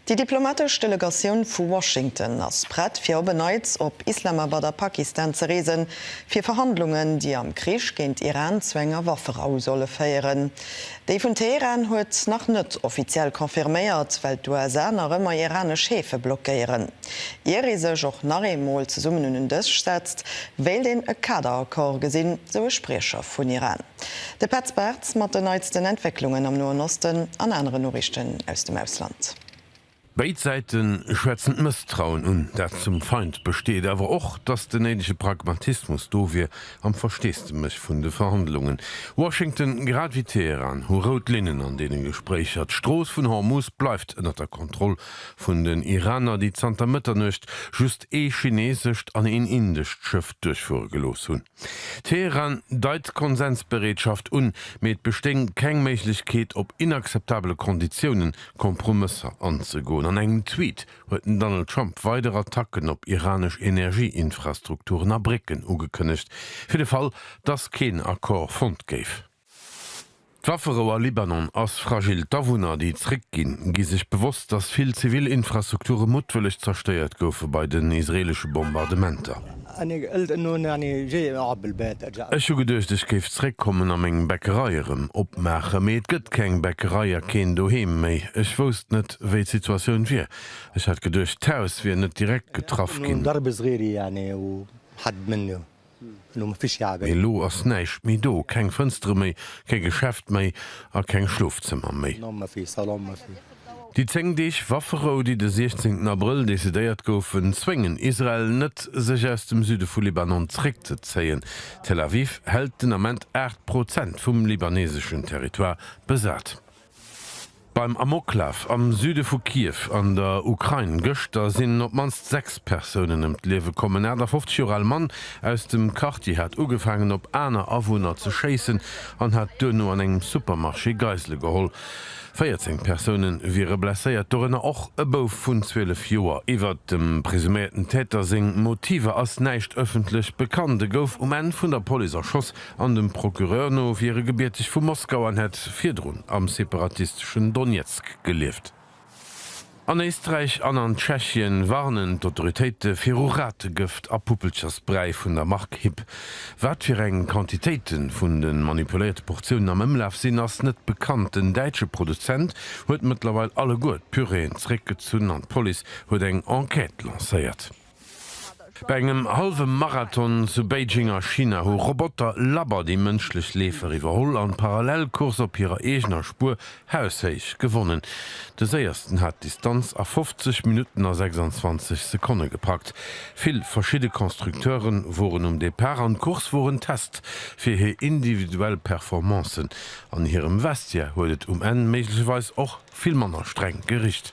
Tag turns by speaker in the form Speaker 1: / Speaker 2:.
Speaker 1: Déi diplomatesch Delegatioun vu Washington ass prett fir op e Neits op Islamabad a Pakistan ze reesen, fir Verhandlungen, déi am Krich géint Iran zu enger Wafferou solle féieren. Déi vun Teheran huet nach net offiziell confirméiert, well d'USA nach ëmmer iranesch Häfe blockéieren. Ier ee sech och nach eemol zesummen un en Dësch setzt, wéilt een e Kaderaccord gesinn, sou e Spriecher vun Iran. De Petz Bartz mat den neitsten Entwécklungen am Noen Osten an aneren Noriichten aus dem Ausland. Béid
Speaker 2: Säite schwätzen d'Mësstrauen un, dat zum Feind besteet, awer och, datt den néidege Pragmatismus do wier am Versteesdemech vun de Verhandlungen. Washington grad wéi Teheran hu rout Linnen an deene Gespréicher. D'Strooss vun Hormus bleift ënner der Kontroll vun den Iraner, déi zanter Mëtternuecht just ee chineesescht an een indescht Schëff duerchfuere gelooss hunn. Teheran deit Konsensbereetschaft un, mee et bestéing keng Méiglechkeet op inakzeptabele Konditiounen Kompromësser anzegoen. An engem Tweet huet den Donald Trump weider Attacken op iranesch Energieinfrastrukturen a Brécken ugekënnegt, fir de Fall, dass keen Accord fonnt géif. D'Wafferou a Libanon ass fragil. D'Awunner, déi zréck ginn, gi sech bewosst, datt vill zivil Infrastrukture muttwëlleg zerstéiert goufe bei den israeelesche Bombardementer. Ech hu geduecht, ech géif zréck kommen a meng Bäckerei erëm opmaachen, mee et gëtt keng Bäckerei a keen Doheem méi. Ech wousst net, wéi d'Situatioun wier. Ech hat geduecht, d'Haus wier net direkt getraff ginn. Mee elo ass näischt méi do, keng Fënstere méi, kee Geschäft méi a keng Schlofzëmmer méi. Déi 10 Deeg Wafferou, déi de 16 Abrëll decidéiert goufen, zwéngen Israel net, sech aus dem Süde vu Libanon zréckzezéien. Tel Aviv hält den Ament 8 Prozent vum libaneseschen Territoire besat. Beim Amoklaf am Süde vu Kiew an der Ukrain gëschter sinn op d'mannst sechs Persounen ëm d'Liewe komm. En 58 Joer al Mann aus dem Quartier hat ugefaangen op aner Awunner ze schéissen an hat duerno an engem Supermarché Geisele geholl. 14 Persoune wiere blesséiert, dorënner och e Bouf vun 12 Joer. Iwwert dem presuméierten Täter seng Motiver ass näischt ëffentlech bekannt. E gouf um Enn vun der Police erschoss, An dem Procureur no wier e gebierteg vu Moskau an hätt virdrun am separatisteschen Donezk gelieft. An Éisträich an an Tschechien warnen d'Autoritéite viru Rategëft a Puppelchersbräi vun der Mark Hib. Wat fir eng Quantitéite vun de manipuléierte Portiounen am Ëmlaf sinn, ass net bekannt. Den däitsche Produzent huet mëttlerweil alleguer d'Puréeën zeréckgezunn an d'Police huet eng Enquête lancéiert. Bei engem hallwe Marathon zu Beijing a China hu Roboter labber déi mënschlech Leefer iwwerholl an d'Parallelcourse op hirer eegener Spuer haushéich gewonnen. De Séiersten hat d'Distanz a 50 Minutten a 26 Sekonne gepackt. Vill verschidde Constructeure woren um Depart an d'Course wor en Test fir hir individuell Performancen. An hirem Vestiaire huet et um Enn méiglecherweis och vill manner streng gericht.